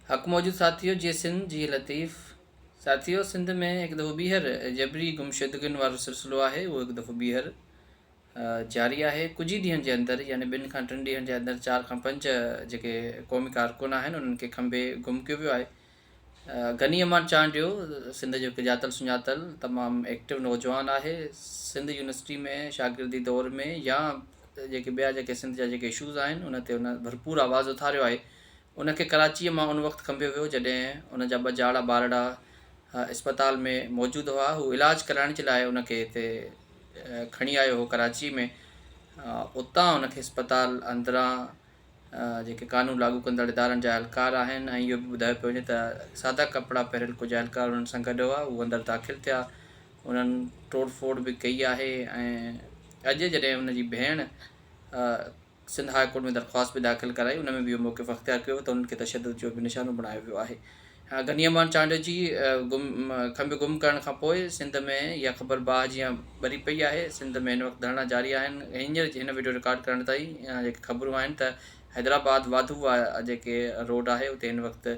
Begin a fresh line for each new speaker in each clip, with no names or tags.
حق موجود ساٿيو جي سنڌ جي لطيف ساٿيو سنڌ ۾ هڪ دفعو ٻيهر جبري گمشدگين وارو سلسلو آهي اهو هڪ دفعو ٻيهر جاري آهي ڪجهه ئي ڏينهن جي اندر يعني ٻن کان ٽن ڏينهن جي اندر چار کان پنج جيڪي قومي ڪارڪن آهن انهن کي کنڀي گم ڪيو ويو آهي غني امان چانڊيو سنڌ جو هڪ ڄاتل سڃاتل تمام ايڪٽو نوجوان آهي سنڌ يونيورسٽي ۾ شاگردي دور ۾ يا جيڪي ٻيا جيڪي سنڌ جا جيڪي اشوز آهن ان تي هن ڀرپور آواز اٿاريو آهي ان کي ڪراچيء مان ان وقت کنڀيو ويو جڏهن ان جا ٻه جاڙا ٻارڙا اسپتال ۾ موجود هئا هو علاج ڪرائڻ جي لاء ان کي هتي کڻي آيو هو ڪراچيء ۾ اتان ان کي اسپتال اندران جيڪي قانون لاڳو ڪندڙ ادارن جا اهلڪار آهن ۽ اهو به ٻڌايو پيو وڃي ته سادا ڪپڙا پهريل ڪجهه اهلڪار انهن سان گڏ هئا هو اندر داخل ٿيا انهن ٽوڙ ڦوڙ به ڪئي آهي ۽ اڄ جڏهن ان جي ڀيڻ سنڌ هاء ڪورٽ ۾ درخواست به داخل ڪرائي ان ۾ به اهو موقف اختيار ڪيو ويو ته انهن کي تشدد جو به نشانو بڻايو ويو آهي غني امان چانڊيو جي گم کنڀ گم ڪرڻ کان پوء سنڌ ۾ اها خبر باهه جيان ٻري پئي آهي سنڌ ۾ هن وقت ڌرڻا جاري آهن هينئر هن وڊيو رڪارڊ ڪرڻ تائين جيڪي خبرون آهن ته حيدرآباد واڌو واه جيڪي روڊ آهي اتي هن وقت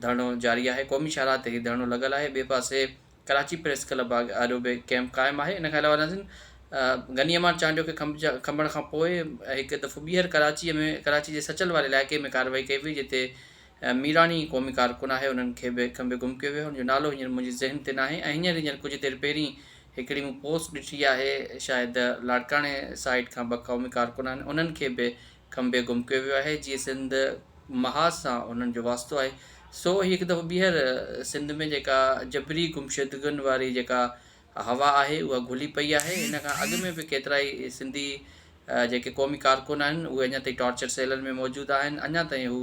ڌرڻو جاري آهي قومي شاهراهه تي هي ڌرڻو لڳل آهي ٻئي پاسي ڪراچي پريس ڪلب آڏو به ڪيمپ قائم آهي ان کان علاوه ناظرين غني امان چانڊيو کي کنڀ جا کنڀڻ کان پوء هڪ دفعو ٻيهر ڪراچي ۾ ڪراچي جي سچل واري علائقي ۾ ڪارروائي ڪئي وئي جتي ميراڻي قومي ڪارڪن آهي انهن کي به ڪنهن به گم ڪيو ويو هن جو نالو هينئر منهنجي ذهن تي ناهي ۽ هينئر هينئر ڪجهه دير پهرين هڪڙي مون پوسٽ ڏٺي آهي شايد لاڙڪاڻي سائيڊ کان ٻه قومي ڪارڪن آهن انهن کي به کنڀي گم ڪيو ويو آهي جيئي سنڌ محاذ سان انهن جو واسطو آهي سو هي هڪ دفعو ٻيهر سنڌ ۾ جيڪا جبري گمشدگين واري جيڪا هوا آهي اها گهلي پئي آهي ان کان اڳ ۾ به ڪيترائي سنڌي جيڪي قومي ڪارڪن آهن اهي اڃا تائين ٽارچر سيلن ۾ موجود آهن اڃا تائين هو